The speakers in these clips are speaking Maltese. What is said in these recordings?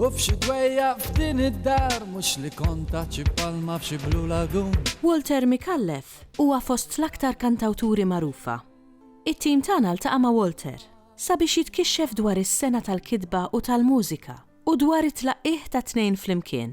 U f'xi dwejjaq f'din id-dar mhux li kont taħt xi palma f'xi blue lagoon. Walter Micallef huwa fost l-aktar kantawturi magħrufa. It-tim tagħna ltaqa' ma' Walter sabiex jitkixxef dwar is-sengħa tal-kitba u tal-mużika u dwar it-tlaqqigħ tat-tnejn flimkien.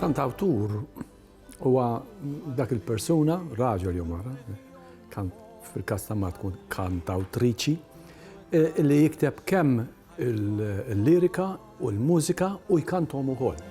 Kantawtur huwa dak il-persuna, raġel jew mara, fil-każ ta' mara tkun kantawtriċi, li jikteb kemm il-lirika u l-mużika u jkanthom ukoll.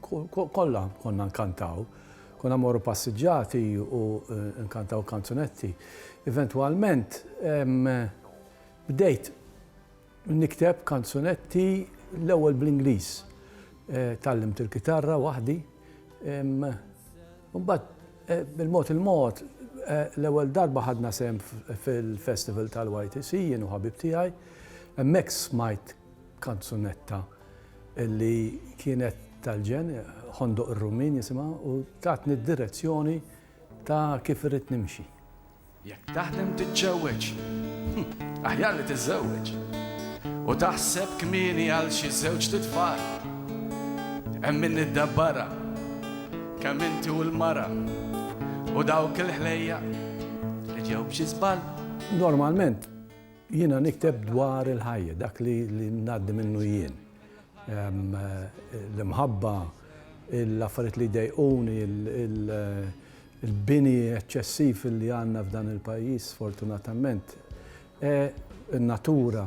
Kollha konna nkantaw. Konna mmorru passiġġati u nkantaw kanzunetti. Eventwalment bdejt nikteb kanzunetti l-ewwel bl-Ingliż. Tgħallimt il-kitarra waħdi. Imbagħad bil-mod il-mod l-ewwel darba ħadna sehem fil-festival tal-YTC jien u ħabib tiegħi. Hemmhekk smajt kanzunetta. li kienet tal-ġen, Ħondoq ir-Rummin jisimha, u tatni d-direzzjoni ta' kif irrid nimxi. Jekk taħlem tiġġewweġ, aħjar li tiżżewweġ u taħseb kmieni għal xi żewġt itfal. Hemm min iddabbarha, kemm inti u l-mara u dawk il-ħlejjaq li ġew b'xi żball. Normalment Jiena nikteb dwar il-ħajja, dak li ngħaddi minnu jien. L-imħabba, l-affarijiet li jdejquni, il-bini eċċessiv li għandna f'dan il-pajjiż sfortunatament, in-natura.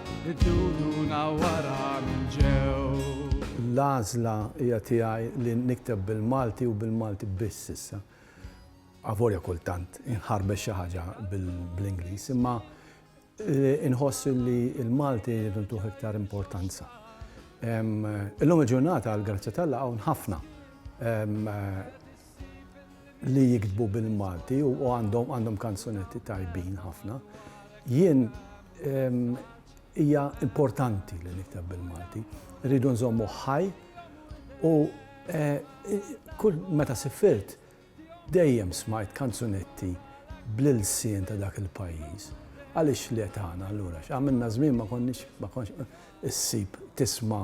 Idduruna wara min ġew. L-għażla hija tiegħi li nikteb bil-Malti u bil-Malti biss issa. Avolja kultant inħarbex xi ħaġa bl-Ingliż, imma inħoss li l-Malti jridu ntuh iktar importanza. Illum il-ġurnata għall-grazzja tal-laqgħa hawn ħafna li jiktbu bil-Malti u għandhom għandhom kanzunetti tajbin ħafna. Jien hija importanti li nikteb bil-Malti. Rridu nżommu ħaj u eh, kull meta sifirt dejjem smajt kanzunetti bl-ilsien ta' dak il-pajjiż. Għaliex li tagħna allura għamilna żmien ma konniex ma konniex issib tisma'